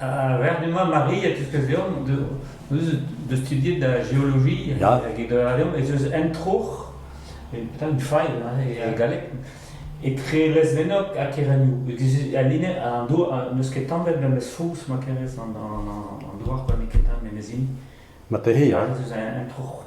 A-ber du-mañ, Mari, a tiskouez deomp deus studiet da geoloji hag e doa deomp ez eus un troc'h, petra une faille e galleg, etre lez-vennok ha Kerennoù. Al linenn, an dour n'eus ket tamet memes fouz ma kerez an douar, n'eo ket tamet memes hini. Materi, hein? Ez eus un troc'h.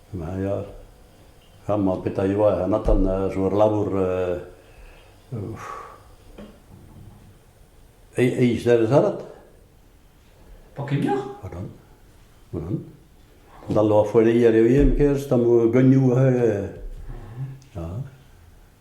Ya, amañ petra eo anatan zo ur labour eizh devezh-arat. Pa kemmioc'h? Voilà. voilà. Dal a foeleier eo ien kerz, tam geunioù. Ja.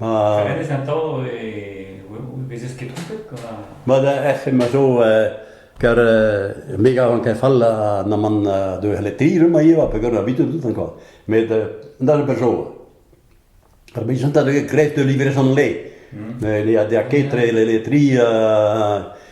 Ma... Hennezh atav e vezez ket trompet gant ar... Ma da ec'h ma zo kar me garan ket fall naman de letir ma eo pe gant ar bit tout encore met da per zo ar bi sont gret de livrer son le ne a de a quatre le letri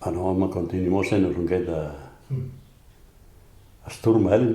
Ha no amañ kontinimosenn on get ar stourm elen.